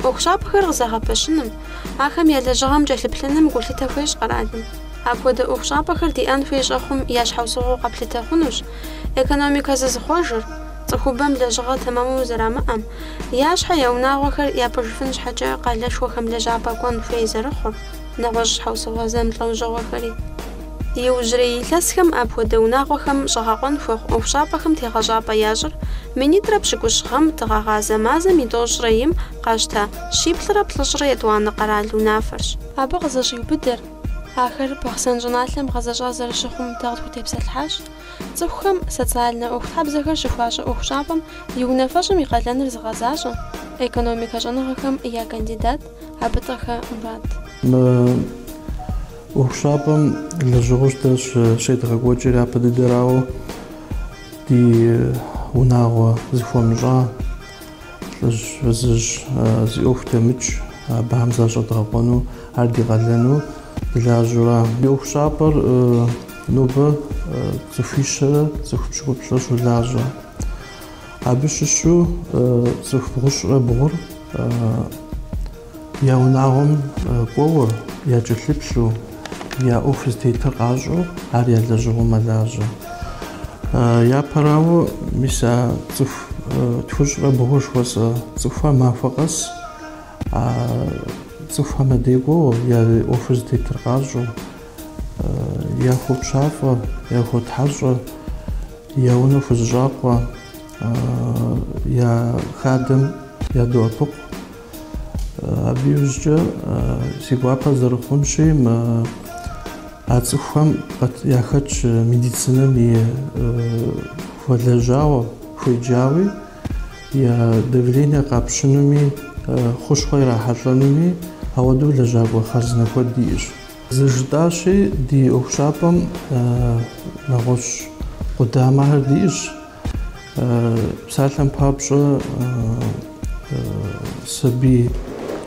ӏуэхущӏапӏэхэр къызэгъэпэщыным, ахэм я лэжьыгъэм кӏэлъыплъыным гулъытэ хуещӏ къэралым. Апхуэдэ ӏуэхущӏапӏэхэр диӏэн хуей щӏэхъум я щхьэусыгъуэу къэплъытэ хъунущ экономикэ зызыхъуэжыр, цӏыхубэм лэжьыгъэ тэмэму зэрамыӏэм, я щхьэ я унагъуэхэр япӏыжыфын щхьэкӏэ къалэшхуэхэм лэжьапӏэ кӏуэн хуей зэрыхъур. нэгъуэщӏ щхьэусыгъуэ зэмылӏэужьыгъуэхэри. Иужьрей илъэсхэм апхуэдэ унагъуэхэм щӏэгъэкъуэн хуэхъу ӏуэхущӏапӏэхэм тегъэщӏапӏэ ящӏыр минитӏрэ пщыкӏущ гъэм дыгъэгъазэ мазэм и тӏощӏрэ им къащта щиплӏрэ плӏыщӏрэ етӏуанэ къэрал унафэрщ. Абы къызэщӏиубыдэр, ахэр Бахъсэн щӏыналъэм гъэзэщӏа зэрыщыхъум дэ къытхутепсэлъыхьащ, цӏыхухэм социальнэ ӏуэхутхьэбзэхэр щыхуащӏэ ӏуэхущӏапӏэм и унафэщӏым и къалэныр зыгъэзащӏэ, экономикэ щӏэныгъэхэм я кандидат, Абытӏэхэ Мурат. Мы ӏуэхущӏапӏэм лэжьыгъэу дэ щедгъэкӏуэкӏыр япэ дыдэрауэ ди унагъуэ зыхуэмыщӏа лӏыжь фызыжь зи ӏуэху дэмыкӏ абыхэм защӏэдгъэкъуэну, ар ди къалэну дылажьэура. Ди ӏуэхущӏапӏэр нобэ цӏыхуищэрэ цӏыху пщыкӏуплӏрэ щолажьэ. Абы щыщу цӏыху бгъущӏрэ бгъур я унагъуэм кӏуэуэ, якӏэлъыплъу, я ӏуэху зытетыр къащӏэу ар я лэжьыгъэу мэлажьэ. Япэрауэ, мис а цӏыху тхущӏрэ бгъур жыхуэсӏэ цӏыхухэр махуэ къэс цӏыхухэм я дей кӏуэуэ я ӏуэху зытетыр къащӏэу, яхуопщафӏэ, яхуотхьэщӏэ, я унэ хузэщӏакъуэ, я хадэм ядоӏэпыкъу. Абы иужькӏэ си гуапэ зэрыхъунщи, мис а цӏыхухэм яхэтщ медицинэм и хуэлэжьауэ, хуеджауи, я давление къапщынуми, хущхъуэ ирахьэлӏэнуми, ауэдэу лэжьакӏуэ хъарзынэ куэд диӏэщ. Зыжытӏащи, ди ӏуэхущӏапӏэм нэгъуэщӏ къудамэхэр диӏэщ. Псалъэм папщӏэ, сабий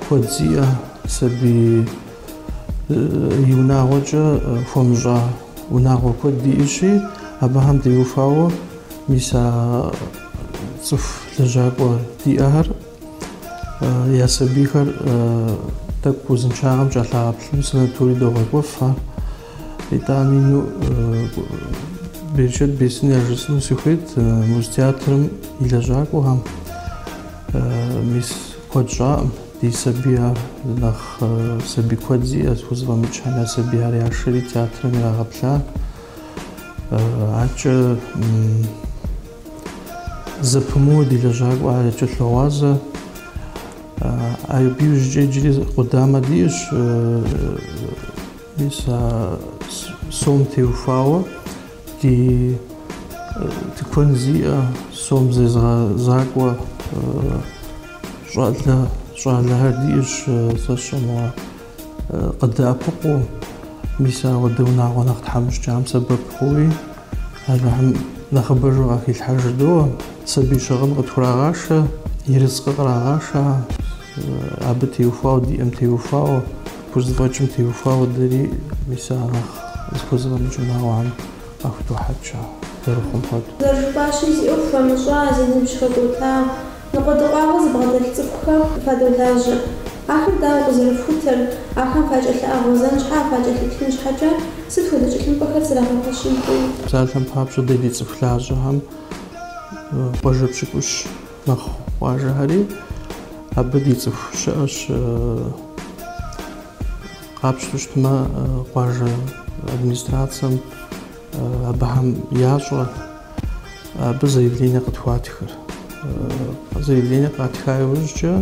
куэд зиӏэ, сабий и унагъуэкӏэ хуэмыщӏа унагъуэ куэд диӏэщи, абыхэм теухуауэ мис а цӏыху лэжьакӏуэ диӏэхэр Я сабийхэр тӏэкӏу узыншагъэм кӏэлъагъэплъыну санаторий догъэкӏуэф ар. Итӏани, ну, берычэт бесын яжысыну сыхуейт Музтеатрым и лэжьакӏуэхэм. Мис куэд щӏаӏым ди сабийхэр, нэхъ сабий куэд зиӏэ, зыхузэфӏэмыкӏхэм я сабийхэр яшэри театрым ирагъэплъа. Аркӏэ Зэпымыууэ ди лэжьакӏуэхэр якӏэлъогъуазэ. Абы иужькӏэ иджыри къудамэ диӏэщ. Мис а сом теухуауэ ди тыкуэн зиӏэ, сом зезгъэзакӏуэ щӏалэ щӏалэхэр диӏэщ сэ сщӏэнуа. Къыдэӏэпыкъуу, мис ауэдэ унагъуэ нэхъ тхьэмыщкӏам сэбэп хъууи, Алыхьым нэхъыбэжу къахилъхьэ жыдоӏэ, сабий щыгъын къытхурагъашэ, ерыскъы кърагъашэ, абы теухуауэ, диӏэм теухуауэ, пхузэфӏэкӏым теухуауэ дэри мис а нэхъ зыхузэфӏэмыкӏ унагъуэхэм къахудохьэкӏ зэрыхъум хуэдэу. Зэрыжыпӏащи, зи ӏуэху хуэмыщӏа, зи ныбжь хэкӏуэта, Ныкъуэдыкъуагъуэ зыбгъэдэлъ цӏыхухэм фадолажьэ. Ахэр дауэ къызэрыфхутэр, ахэм факӏэлъыӏэгъуэзэн щхьэ, факӏэлъыплъын щхьэкӏэ сыт хуэдэ тхылъымпӏэхэр зрагъэпэщын хуей? Псалъэм папщӏэ, дэ ди цӏыху лажьэхэм къуажэ пщыкӏущ мэхъу къуажэхэри, абы ди цӏыху щыӏэщ. Къапщтэу щытмэ, къуажэ администрацэм, Абыхэм ящӏэ абы заявление къытхуатхыр. Заявление къатха иужькӏэ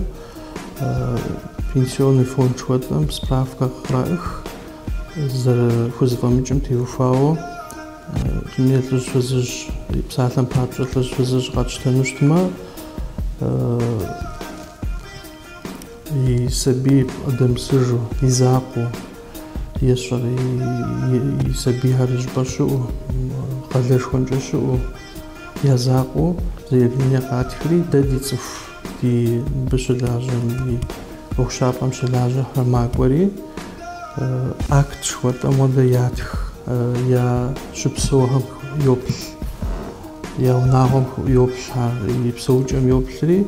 пенсионный фонд жыхуэтӏэм справкэ къыраӏых, зэрыхузэфӏэмыкӏым теухуауэ лӏыжь фызыжь, псалъэм папщӏэ лӏыжь фызыжь къэтщтэну щытмэ, И сабий бгъэдэмысыжу, и закъуэу, ещӏэр и сабийхэр зыщӏыпӏэ щыӏэу, къалэшхуэнкӏэ щыӏэу, я закъуэу заявление къатхри, дэ ди цӏыху, ди мыбы щылажьэм, ди ӏуэхущӏапӏэм щылажьэхэр макӏуэри, акт жыхуэтӏэм хуэдэ ятх, я щыпсэухэм йоплъ, я унагъуэм йоплъхэ, и псэукӏэм йоплъри.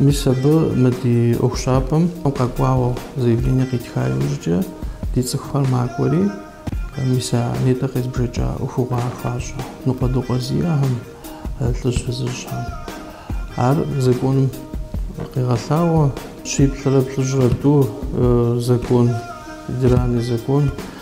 Мис абы мы ди ӏуэхущӏапӏэм къэкӏуауэ заявление къитха иужькӏэ ди цӏыхухэр макӏуэри, мис а нетӏэ къезбжэкӏа ӏуэхугъуэхэр хуащӏэ ныкъуэдыкъуэ зиӏэхэм, лӏыжь фызыжьхэм. Ар законым къегъэлъагъуэ. Щиплӏрэ плӏыщӏрэ тӏу закон, федеральный закон.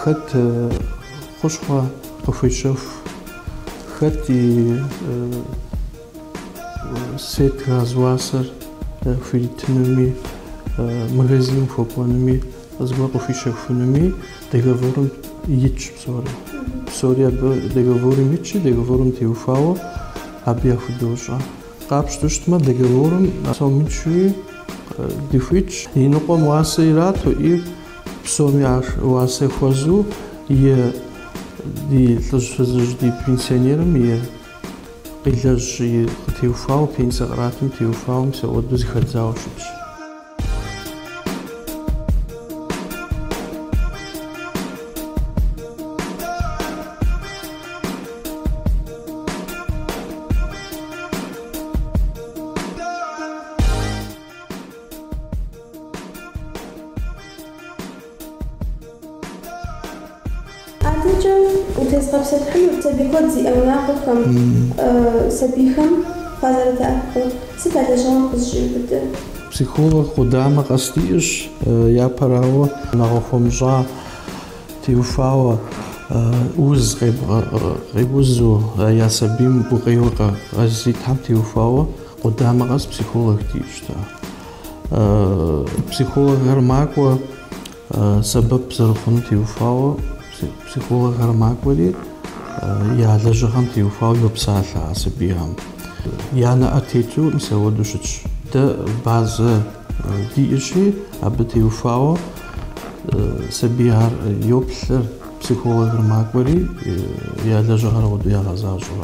Хэт хущхъуэ къыхуещэху, хэт и свет газ уасэр хуитынуми, магазиным хуэкӏуэнуми, зыгуэр къыхуищэхунуми договорым итщ псори. Псори абы договорым итщи, договорым теухуауэ абы яхудощӏэ. Къапщтэу щытмэ, договорым псом итщи дыхуитщ. И ныкъуэм уасэ ирату и Псоми ар уасэ хуэзу и ди лӏыжь фызыжь ди пенсионерым и къилэжь и къытеухуауэ, пенсэ къратым теухуауэ мис ауэдэу зыхэдзауэ щытщ. Адэкӏэ утезгъэпсэлъыхьынут сабий куэд зиӏэ унагъуэхэм, сабийхэм фазэрыдэӏэпыкъур. Сыт а лэжьыгъэм къызыщӏиубыдыр? Психолог къудамэ къэс диӏэщ, япэрауэ, унагъуэ хуэмыщӏа теухуауэ, уз къе, къеузу, я сабийм гукъеуэ къэзытитхьэм теухуауэ. Къудамэ къэс психолог диӏэщ дэ. Психологхэр макӏуэ сэбэп зэрыхъуну теухуауэ, психологхэр макӏуэри я лэжьыгъэм теухуауэ йопсалъэ а сабийхэм. Я нэӏэ тету мис ауэдэу щытщ. Дэ базэ диӏэщи, абы теухуауэ сабийхэр йоплъыр, Психологыр макӏуэри, я лэжьыгъэр ауэдэу ягъэзащӏэр.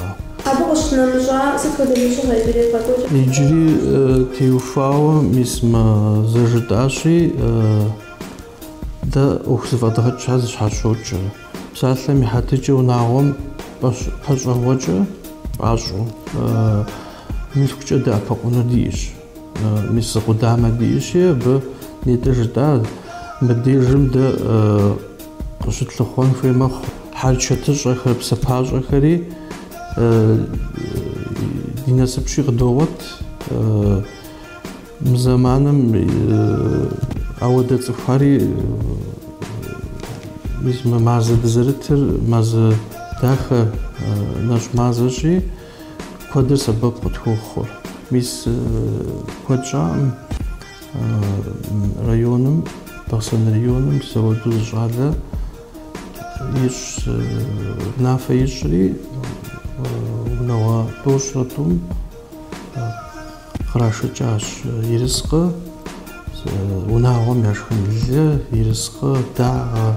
Абы къыщынэмыщӏа сыт хуэдэ лэжьыгъэ иджыри евгъэкӏуэкӏыр? Иджыри теухуауэ мис мы зэжытӏащи, дэ ӏуэху зэфӏэдгъэкӏхэр зэщхьэщокӏ. Псалъэм и хьэтыкӏэ унагъуэм пӏэщӏэгъуэкӏэ пӏащӏэу, мылъкукӏэ дэӏэпыкъуну диӏэщ. Мис зы къудамэ диӏэщи, абы нетӏэ жытӏа, мыбдежым дэ, къыщытлъыхъуэн хуей мэхъу. Хьэрчэтыщӏэхэр, псапащӏэхэри ди насыпщи къыдогъуэт. Мы зэманым ауэдэ цӏыхухэри мис мы мазэ дызэрытыр мазэ дахэ нэщӏ мазэщи куэдыр сэбэп къытхуохъур. Мис куэд щӏакъым Районым, Бахъсэн районым мис ауэдэу зы щӏалэ ищӏ, унафэ ищӏри, унагъуэ тӏощӏрэ тӏум кърашэкӏащ ерыскъы, унагъуэм яшхын лы, ерыскъы, дагъэ.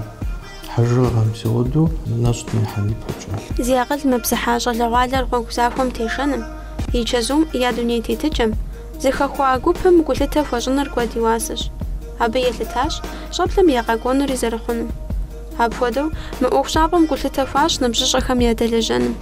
Хьэжыгъэ мис ауэдэу нэщӏ димыхьэн ипэкӏэ. Зи акъыл мыпсыхьа щӏалэгъуалэр гъуэгу захуэм тешэным, и чэзум я дуней тетыкӏэм, зыхэхуа гупым гулъытэ хуэщӏыныр куэд и уасэщ. Абы елъытащ щӏэблэм я къэкӏуэнури зэрыхъунум. Апхуэдэу мы ӏуэхущӏапӏэм гулъытэ хуащӏ ныбжьыщӏэхэм ядэлэжьэным.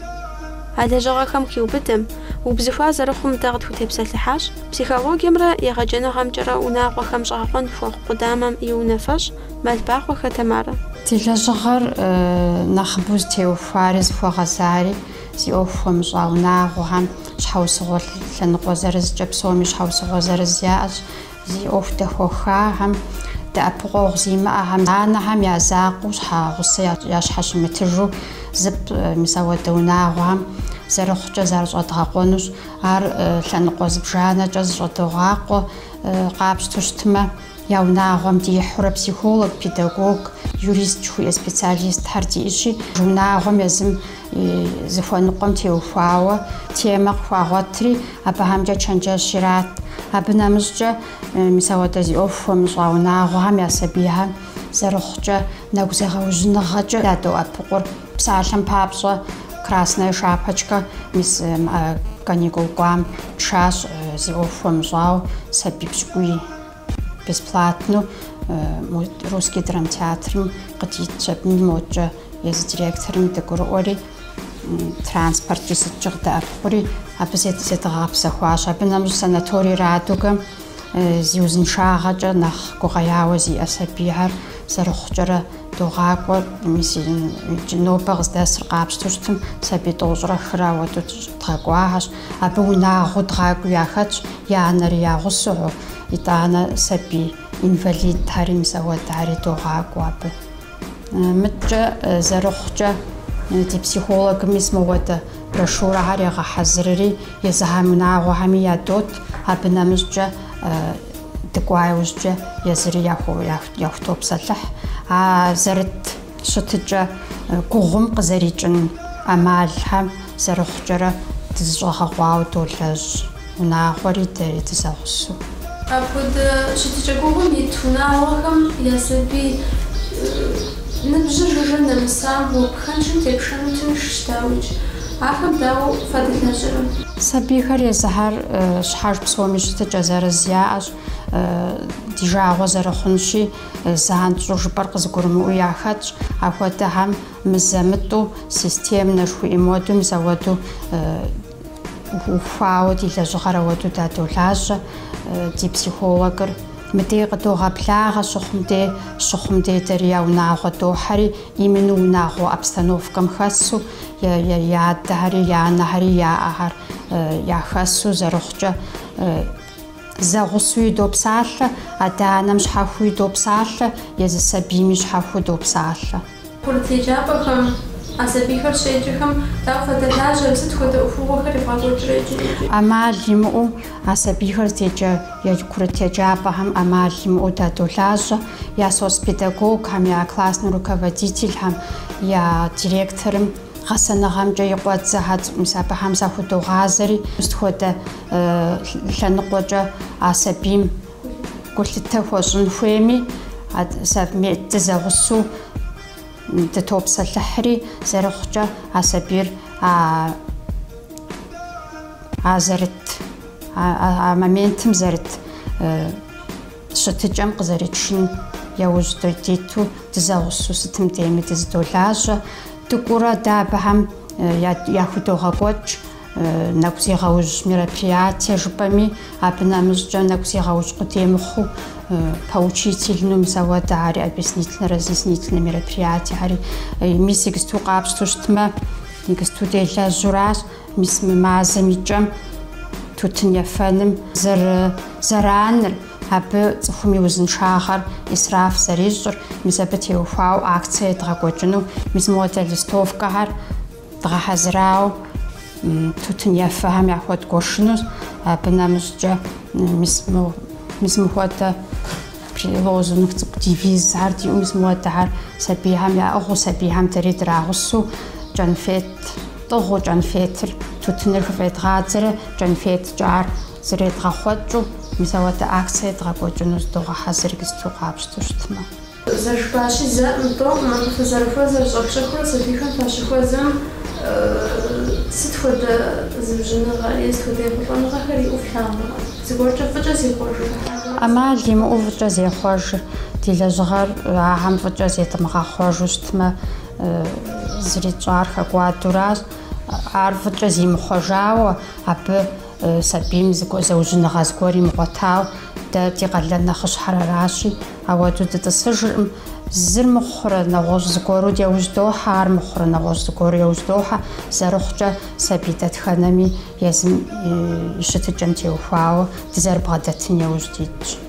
А лэжьыгъэхэм хиубыдэм, убзыхуа зэрыхъум дэ къытхутепсэлъыхьащ психологиемрэ егъэджэныгъэмкӏэрэ унагъуэхэм щӏэгъэкъуэн хуэхъу къудамэм и унафэщӏ Мэлбахъуэхэ Тамарэ. Ди лэжьыгъэр нэхъыбэу зытеухуари зыхуэгъэзари зи ӏуэху хуэмыщӏа унагъуэхэм щхьэусыгъуэ лъэныкъуэ зырызкӏэ, псоми щхьэусыгъуэ зырыз яӏэщ, зи ӏуэху дэхуэхахэм, дэӏэпыкъуэгъу зимыӏэхэм, анэхэм я закъуэу щхьэгъусэ ящхьэщымытыжу зыпӏ мис ауэдэ унагъуэхэм зэрыхъукӏэ зарыщӏэдгъэкъуэнущ. Ар лъэныкъуэ зыбжанэкӏэ зыщӏэдогъакъуэ къапщтэу щытмэ, Я унагъуэм дихьурэ психолог, педагог, юрист жыхуиӏэ специалистхэр диӏэщи, унагъуэм езым и зыхуэныкъуэм теухуауэ темэ къыхуагъуэтри, абыхэмкӏэ чэнджэщ ират. Абы нэмыщӏкӏэ, мис ауэдэ зи ӏуэху хуэмыщӏа унагъуэхэм я сабийхэм зэрыхъукӏэ нэгу зегъэужьыныгъэкӏэ дадоӏэпыкъур. Псалъэм папщӏэ, Красная шапочка мис каникул кӏуам тшащ зи ӏуэху хуэмыщӏауэ сабий пщыкӏуий. Бесплатно Русский драмтеатрым къыдитщ абы моткӏэ езы директорым дыгурыӏуэри, транспорткӏи сыткӏи къыддэӏэпыкъури, абы зедгъэгъэпсэхуащ. Абы нэмыщӏ санаторий Радугэм зи узыншагъэкӏэ нэхъ гукъеуэ зиӏэ сабийхэр зэрыхъукӏэрэ догъакӏуэ. Мис иджы нобэ къыздэсыр къапщтэу щытым, сабий тӏощӏрэ хырэ ауэдэу дгъэкӏуахэщ. Абы унагъуэу дгъакӏуи яхэтщ я анэри я гъусэу, итӏанэ сабий инвалидхэри мис ауэдэхэри догъакӏуэ абы. Мыткӏэ зэрыхъукӏэ, ди психологым мис мыхуэдэ брошюрэхэр егъэхьэзырри, езыхьэм унагъуэхэми ядот, абы нэмыщӏкӏэ дыкӏуа иужькӏэ езыри яхутопсэлъыхь. А зэрыт. Щытыкӏэ гугъум къызэрикӏын ӏэмалхэм зэрыхъукӏэрэ дызыщӏэгъэкъуауэ долэжь, унагъуэри дэри дызэгъусэу. Апхуэдэ щытыкӏэ гугъум ит унагъуэхэм я сабий ныбжьыр жыжьэ нэмысам гъуэгу пхэнжым тепшэну тыншщ, дауикӏ, ахэм дауэ фадэлажьэрэ? Сабийхэр езыхьэр щхьэж псоми щытыкӏэ зырыз яӏэщ, ди жагъуэ зэрыхъунщи, Занщӏэу жыпӏэр къызыгурымыӏуэу яхэтщ, ахуэдэхэм мызэ-мытӏу системнэ жыхуиӏэм хуэдэу мис ауэду ухуауэ ди лэжьыгъэр ауэду дадолажьэ, ди психологыр мыдей къыдогъэблагъэ щыхъум дей, щыхъум дей дэри я унагъуэ дохьэри, именно унагъуэ обстановкэм хэсу, я адэхэри, я анэхэри яӏэхэр яхэсу зэрыхъукӏэ, Зэгъусуи допсалъэ, адэ-анэм щхьэхуи допсалъэ, езы сабийми щхьэхуи допсалъэ. Курыт еджапӏэхэм, а сабийхэр щеджэхэм дауэ фадэлажьэрэ, сыт хуэдэ ӏуэхугъуэхэр евгъэкӏуэкӏрэ иджы-иджы? ӏэмал имыӏэу а сабийхэр здеджэ курыт еджапӏэхэм ӏэмал имыӏэу дадолажьэ, я соцпедагогхэм, я классный руководительхэм, я директорым гъэсэныгъэмкӏэ и къуэдзэхэм, мис абыхэм захудогъазэри, сыт хуэдэ лъэныкъуэкӏэ а сабийм гулъытэ хуэщӏын хуейми, совмет дызэгъусэу дытопсэлъыхьри, зэрыхъукӏэ а сабийр а а зэрыт а моментым зэрыт щытыкӏэм къызэритшын яужь диту дызэгъусэу сытым дейми дызыдолажьэ. Дыкӏуурэ дэ абыхэм яхудогъэкӏуэкӏ. Нэгу зегъэужь мероприятие жыпӏэми, абы нэмыщӏкӏэ нэгу зегъэужь къудей мыхъуу поучительну мис ауэдэри, объяснительно разъяснительно мероприятиехэри мис игысту къапщту щытмэ, игысту делэжьуращ, мис мы мазэм икӏэм тутын ефэным зэрызэраныр, абы цӏыхум и узыншагъэр исраф зэрищӏыр, мис абы теухуауэ акцие едгъэкӏуэкӏыну, мис мыуэдэ листовкэхэр Дгъэхьэзырауэ, тутын ефэхэм яхуэдгуэшыну, абы нэмыщӏкӏэ мис мис мыхуэдэ лозунг цӏыкӏу девизхэр диӏэу мис мыуэдэхэр сабийхэм яӏыгъыу, сабийхэм дэри драгъусэу кӏэнфет тӏыгъыу, кӏэнфетыр тутыныр хыфӏедгъадзэрэ кӏэнфеткӏэ ар зэредгъэхъуэкӏыу мис ауэдэ акцие дгъэкӏуэкӏыну зыдогъэхьэзыр игысту къапщтэу щытмэ. Зэрыжыпӏащи, зэкъым, тӏэукъым фызэрыхуэзэр щӏэх-щӏэхыурэ сабийхэм фащыхуэзэм сыт хуэдэ зыужьыныгъэ е сыт хуэдэ ехъулӏэныгъэхэр иӏэу флъагъурэ? Зыгуэркӏэ фӏыкӏэ зехъуэжрэ? ӏэмал имыӏэу фӏыкӏэ зехъуэжыр, ди лэжьыгъэр ахэм фӏыкӏэ зедмыгъэхъуэжу щытмэ, зыри тщӏар хэкӏуадуращ. Ар фӏыкӏэ зимыхъуэжауэ, абы сабийм зыужьыныгъэ зыгуэр имыгъуэтауэ, дэ ди къалэн нэхъыщхьэр аращи, Ауэду дытӏысыжыркъым. Зыр мыхъурэ нэгъуэщӏ зыгуэру яужь дохьэ, ар мыхъурэ нэгъуэщӏ зыгуэру яужь дохьэ. Зэрыхъукӏэ, сабий дэтхэнэми езым и щытыкӏэм теухуауэ дызэрыбгъэдэтын яужь дитщ.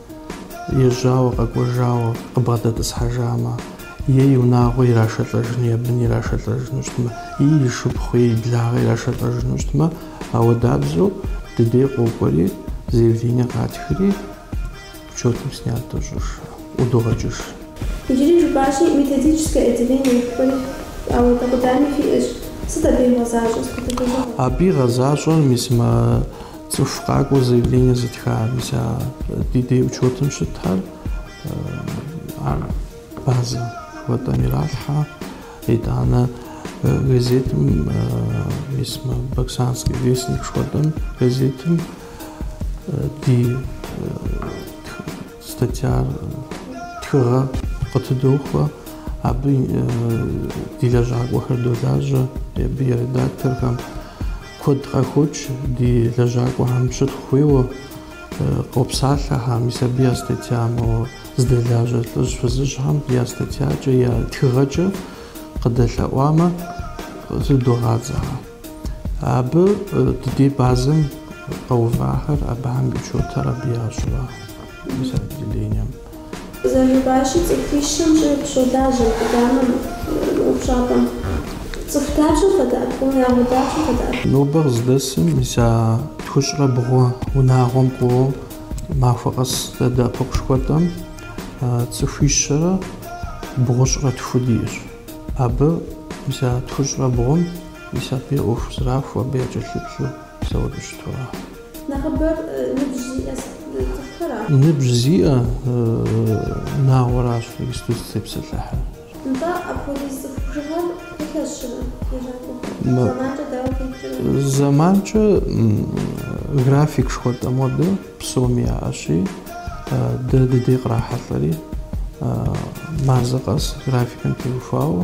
Ежьауэ къэкӏуэжауэ къыбгъэдэтӏысхьэжамэ, е и унагъуэ ирашэлӏэжын, е бын ирашэлӏэжыну щытмэ, и и шыпхъу, е и благъэ ирашэлӏэжыну щытмэ, ауэдабзэу дыдей къокӏуэри, заявление къатхри, учетым снят дощӏыж, ӏудогъэкӏыж. Иджыри жыпӏащи, методическэ отделение жыхуиӏэ апхуэдэ къудами фиӏэщ. Сыт абы игъэзащӏэр, сыт хуэдэ лэжьыгъэ? Абы игъэзащӏэр, мис мы Цӏыху къакӏуэу заявление зытха, мис а ди дей учетым щытхьэр, ар базэ жыхуэтӏэм иралъхьэ. Итӏанэ газетым, мис мы Баксанский вестник жыхуэтӏэм газетым ди статьяр тхыгъэ къытыдохуэ, абы ди лэжьакӏуэхэр долажьэ, абы и редакторхэм. Куэд къахокӏ ди лэжьакӏуэхэм щытхъу хуейуэ къопсалъэхэ, мис абы я статья, моуэ здэлажьэ лӏыжь фызыжьхэм я статьякӏэ, я тхыгъэкӏэ къыдэлъэӏуамэ, тыдогъадзэхэ. Абы дыдей базэм къэувахэр, абыхэм и учетыр абы ящӏыгъэ. Мис отделением. Зэрыжыпӏащи, цӏыхуищэм щӏигъу щолажьэ мы къудамэм, мы ӏуэхущӏапӏэм. Цӏыху дапщэ фадэӏэпыкъурэ? Унагъуэ дапщэ фадэӏэпыкъурэ? Нобэ къыздэсым мис а тхущӏрэ бгъу унагъуэм кӏуэуэ махуэ къэс дадэӏэпыкъу жыхуэтӏэм цӏыхуищэрэ бгъущӏрэ тху диӏэщ. Абы мис а тхущӏрэ бгъум мис абы и ӏуэху зрахуэу абы якӏэлъыплъу псэур къыщытурэ. Нэхъыбэр ныбжь зиӏэ цӏыхухэр ара? Ныбжь зиӏэ унагъуэращ иджыпсту дызытепсэлъыхьыр. Нтӏэ, апхуэдиз цӏыху бжыгъэр фылъэщӏыхьэрэ лэжьакӏуэхэр? Зэманкӏэ дауэ къикӏрэ? Зэманкӏэ график жыхуэтӏэ мобы псоми яӏэщи, дэ дыдей кърахьэлӏэри мазэ къэс графикым теухуауэ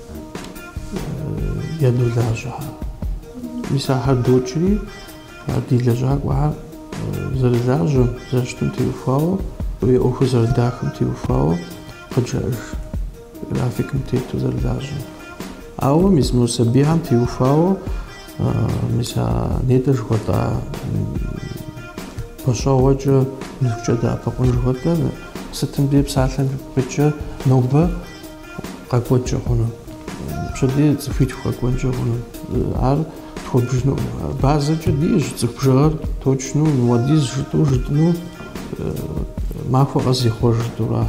ядолажьэхэ. Мис ахэр докӏри, а ди лэжьакӏуэхэр зэрылажьэм, зэрыщытым теухуауэ, и ӏуэхур зэрыдахэм теухуауэ къыджаӏэж графикым тету зэрылажьэм. Ауэ мис мы сабийхэм теухуауэ мис а нетӏэ жыхуэтӏа гъэщӏэгъуэкӏэ мылъкукӏэ дэӏэпыкъун жыхуэтӏэр сытым дей псалъэм щхьэкӏэ нобэ къэкӏуэнкӏэ хъуну, пщэдей цӏыхуитху къэкӏуэнкӏэ хъуну, ар тхуэбжыну. Базэкӏэ диӏэщ цӏыху бжыгъэр точну, мыпхуэдиз жытӏу жытӏыну, махуэ къэс зихъуэж жытӏура.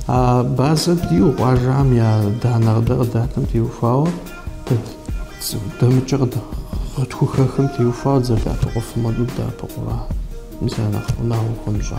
А базэ диӏэу къуажэм я данные къыдэ къыдатым теухуауэ, дэмыкӏэ къытхухэхым теухуауэ дызэрыдэӏэпыкъуфым хуэдэу дыдэӏэпыкъура, мис нэхъ унагъуэ хуэмыщӏа.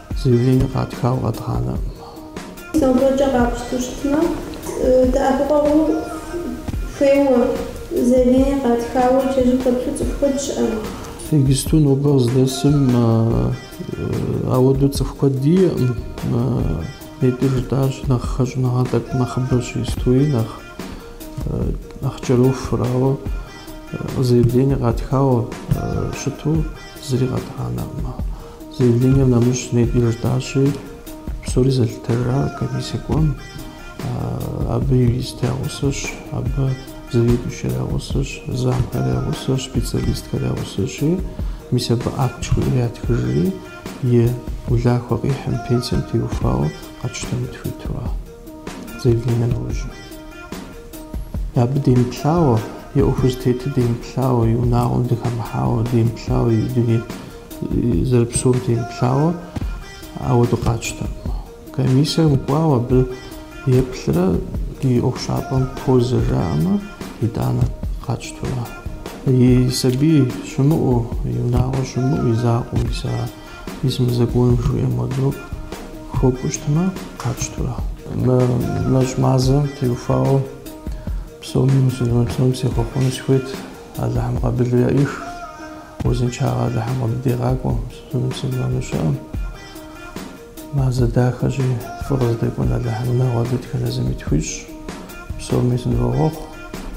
Заявление къатхауэ къэдгъанэкъым. Нобэркӏэ къапщту щытмэ, дэӏэпыкъуэгъу хуейуэ заявление къатхауэ икӏэжьу хэплъу цӏыху куэд щыӏэну. Иджыпсту нобэ къыздэсым ауэдэу цӏыху куэд диӏэкъым. Нетӏи жытӏащ нэхъ хэщӏыныгъэ тӏэкӏу нэхъыбэщ истои нэхъ нэхъ кӏэрохур, ауэ заявление къатхауэ щыту, Зыри къэдгъанэркъым. Заявлением нэмыщӏ нетӏи жытӏащи, псори зэлъытыжар комиссие кӏуэм. Абы юрист я гъусэщ, абы заведующэр я гъусэщ, замхэр я гъусэщ, специалисткэр я гъусэщи, мис абы акт жыхуиӏэр ятхыжри, и улахуэ къихьым, пенсием теухуауэ къэтщтэну дыхуитура. заявлением иужь. Абы демыплъауэ, и ӏуэхур зытетыр демыплъауэ, и унагъуэм дыхэмыхьауэ, демыплъауэ, и дуней зэрыпсэум демыплъауэ, ауэдэу къатщтэкъым. Комиссием кӏуауэ абы еплърэ и ӏуэхущӏапӏэм хозагъэ жаӏэмэ, итӏанэ къатщтурэ. И сабий щымыӏэу, и унагъуэ щымыӏэу, и закъуэм иса Езы законым жыхуиӏэм хуэдэу хуэкӏуу щытмэ, къатщтура. Мы нэщӏ мазэм теухуауэ псоми мусульман псом сехъуэхъуэну сыхуейт, Алыхьым къабылу яӏих, узыншагъэ Алыхьым къыбдигъакӏуэ мусульману щыӏэм. Мазэ дахэщи, фӏы къыздэкӏуэн Алыхьым унагъуэ дэтхэнэ зыми тхуищӏ, псоми сынывохъуэхъу.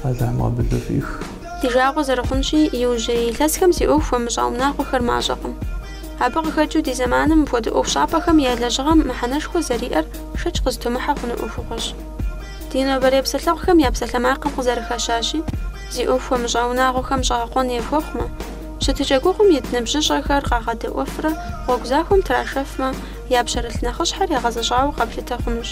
Алыхьым къабылу фӏих. Ди жагъуэ зэрыхъунщи, иужьрей илъэсхэм зи ӏуэху хуэмыщӏа унагъуэхэр мащӏэкъым. Абы къыхэкӏыу ди зэманым мыпхуэдэ ӏуэхущӏапӏэхэм я лэжьыгъэм мыхьэнэшхуэ зэриӏэр шэч къызытумыхьэ хъуну ӏуэхугъуэщ. Ди нобэрей псэлъэгъухэм я псалъэмакъым къызэрыхэщащи, зи ӏуэху хуэмыщӏа унагъуэхэм щӏэгъэкъуэн яхуэхъумэ, щытыкӏэ гугъум ит ныбжьыщӏэхэр къагъэдэӏуэфрэ гъуэгу захуэм трашэфмэ, я пщэрылъ нэхъыщхьэр ягъэзэщӏауэ къэплъытэ хъунущ.